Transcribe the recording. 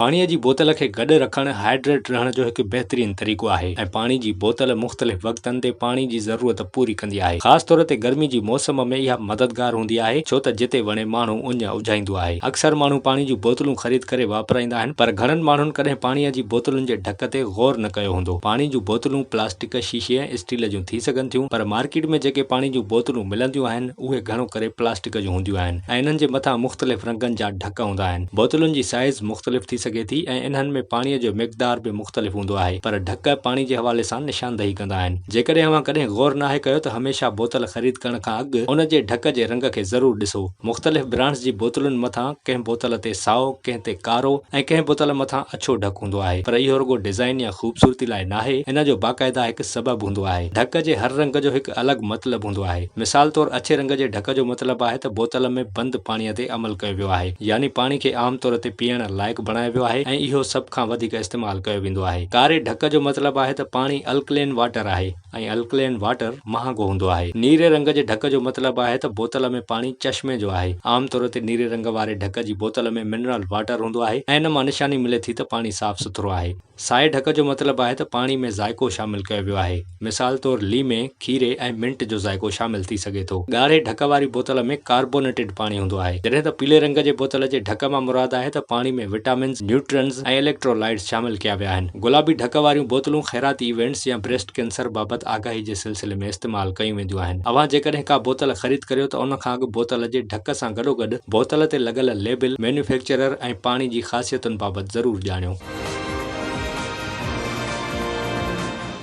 پاڻيء جي بوتل کي گڏ رکڻ هائيڊريٽ رهڻ جو هڪ بهترين طريقو آهي ۽ پاڻي جي بوتل مختلف وقتن تي پاڻي جي ضرورت پوري ڪندي آهي. خاص طور تي گرمي جي موسم ۾ اها مددگار هوندي آهي ڇو ته جتي وڻي ماڻهو اڃ اجهائيندو آهي. اڪثر ماڻهو پاڻي جون بوتلون خريد ڪري واپرائيندا آهن پر گهڻن ماڻهن ڪڏهن پاڻيء جي بوتلن جي ڍڪ تي غور نه ڪيو هوندو. پاڻي جون بوتلون پلاسٽڪ، شيشي ۽ اسٽيل جون ٿي سگهن ٿيون پر مارڪيٽ ۾ جيڪي پاڻي جون بوتلون ملنديون آهن اهي گهڻو ڪري پلاسٽڪ جون هونديون آهن ۽ انهن جي مٿان مختلف رنگن جا ڪ هوندا آهن. بوتلن جي سائيز مختلف ٿي سگهي ٿي ۽ انهن ۾ پاڻيء جو مقدار به مختلف هوندو آهي، پر ڍڪ پاڻي جي حوالي سان نشاندهي ڪندا آهن. جيڪڏهن اوهان ڪڏهن غور ناهي ڪيو ته هميشه بوتل خريد ڪرڻ کان اڳ ان جي ڍڪ جي رنگ کي ضرور ڏسو. مختلف برانڊز جي بوتلن مٿان ڪنهن بوتل تي سائو، ڪنهن تي ڪارو ۽ ڪنهن بوتل مٿان اڇو ڍڪ هوندو آهي، پر اهو رڳو ڊزائين يا خوبصورتي لاء ناهي، ان جو باقاعده هڪ سبب هوندو آهي. ڍڪ جي هر رنگ جو هڪ الڳ مطلب هوندو آهي. مثال طور اڇي رنگ جي ڍڪ جو مطلب آهي ته بوتل ۾ بند پاڻيء تي عمل ڪيو ويو آهي يعني پاڻي کي عام طور تي پيئڻ لائق بڻايو ويو آهي ۽ اهو سڀ کان وڌيڪ استعمال ڪيو ويندو آهي ڪاري ڍڪ جو مطلب آهي ته پاڻي الڪلين واٽر آهي ۽ الڪلين واٽر مهانگو هوندو آهي نيري رنگ جي ڍڪ جو مطلب آهي ته بوتل ۾ پاڻي چشمي جو آهي عام طور تي نيري رنگ واري ڍڪ جي بوتل ۾ منرل واٽر هوندو آهي ۽ ان مان نشاني ملي ٿي ته پاڻي صاف سٿرو آهي. سائي ڍڪ جو مطلب آهي ته پاڻي ۾ ذائقو شامل ڪيو ويو آهي. مثال طور ليمي، کيري ۽ منٽ جو ذائقو شامل ٿي سگهي ٿو. ڳاڙهي ڍڪ واري بوتل ۾ ڪاربونيٽيڊ پاڻي هوندو آهي. جڏهن ته پيلي رنگ جي بوتل جي ڍڪ مان مراد آهي ته پاڻي ۾ وٽامنز، نيوٽرنز ۽ اليڪٽرولائيٽس شامل ڪيا ويا آهن. گلابي ڍڪ واريون بوتلون خيراتي ايونٽس يا بريسٽ ڪينسر بابت آگاهي جي سلسلي ۾ استعمال ڪيون وينديون آهن. اوهان جيڪڏهن ڪا بوتل خريد ڪريو ته ان کان اڳ بوتل جي ڍڪ سان گڏوگڏ بوتل تي لڳل ليبل، مينيوفيڪچرر ۽ پاڻي جي خاصيتن بابت ضرور ڄاڻيو.